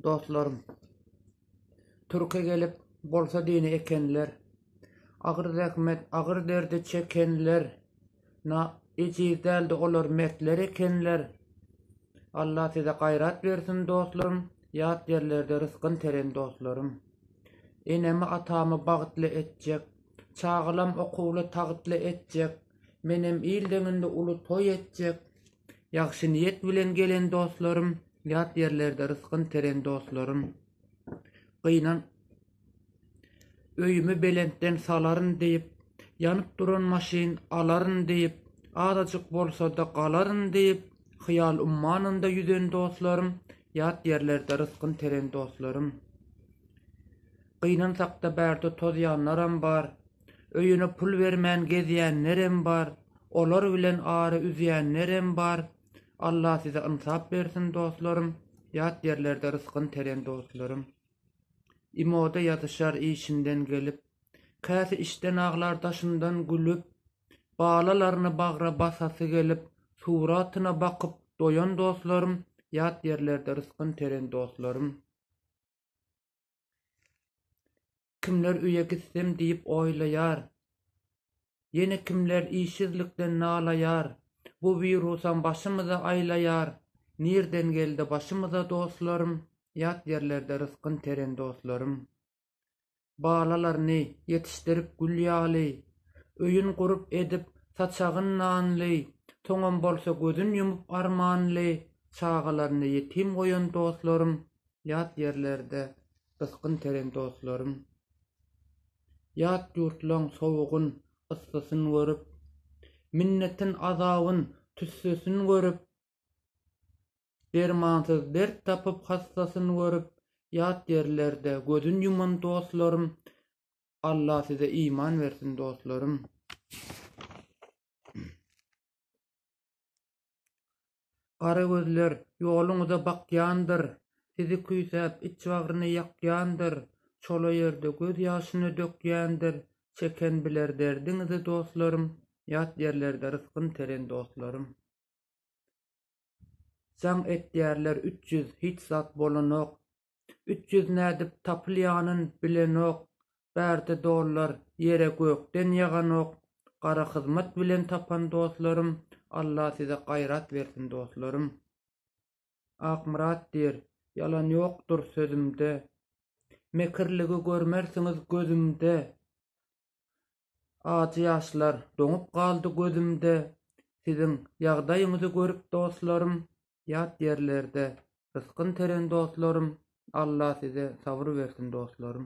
Dostlarym. Türke gelip bolsa dini ekenler. Agyr zähmet, agyr derdi çekenler. Na ejiz däldi olar mertler ekenler. Allah size gaýrat bersin dostlarym, ýat ýerlerde rysgyn teren dostlarym. Enemi atamy bagytly etjek, çagalam okuwly tagytly etjek, menem il deňinde uly toý etjek. Ýagşy niýet bilen gelen dostlarym, Ýat ýerlerde rysgyn teren dostlarym. Gynan öýümi belentden salaryn diýip, Ýanyp duran maşyn alaryn diýip, Azajyk bolsa-da galaryn diýip, Hyýal ummanynda ýüzen dostlarym, Ýat ýerlerde rysgyn teren dostlarym. Gynansakda bärde tozýanlaram bar. Öýüne pul bermän gezýänlerem bar. Olar bilen ara üzýänlerem bar. Alla size ynsap bersin dostlarym. Ýat ýerlerde rysgyn teren dostlarym. Imoda ýazyşar işinden gelip. Käsi işden aglar daşyndan gülüp. Balalaryny bagra basasy gelip. Suratyna bakyp doýan dostlarym. Ýat ýerlerde rysgyn teren dostlarym. Kimler öýe gitsem diýip oýlaýar. Ýene kimler işsizlikden nalaýar. Bu wirusam başymyzy aýlaýar. Nirden geldi başymyza dostlarym, Ýat ýerlerde rysgyn teren dostlarym. Balalaryny ýetişdirip gül ýaly, Öýün gurup edip saçagyn nanly, Soňam bolsa gözün ýumup armanly, Çagalaryny ýetim goýan dostlarym, Ýat ýerlerde ysgyn teren dostlarym, Ýat ýurtlaň sowugyn, yssysyn görüp, Minnetin, azabyn, tüssesini görüp, Dermansyz dert tapyp hassasyn görüp, Ýat ýerlerde gözün ýuman dostlarym, Alla size iman bersin dostlarym. Gara gözler ýoluňyza bakýandyr, Sizi küýsäp iç bagryny ýakýandyr, Çola ýerde göz ýaşyny dökýändir, Çeken biler derdiňizi dostlarym, Ýat ýerlerde rysgyn teren dostlarym. Jaň etýärler üç ýüz, hiç zat bolanok, Üç ýüz nädip tapylýanyn bilenok bärde dollar ýere gökden ýaganok gara hyzmat bilen tapan doslarym Allah size gaýrat bersin doslarym. Akmyrat diýr, ýalan ýokdur sözümde. Mekirligi görmersiňiz gözümde. Ajy ýaşlar doňup galdy gözümde, Siziň ýagdaýyňyzy görüp dostlarym, Ýat ýerlerde rysgyn tereň dostlarym, Alla size sabyr bersin dostlarym.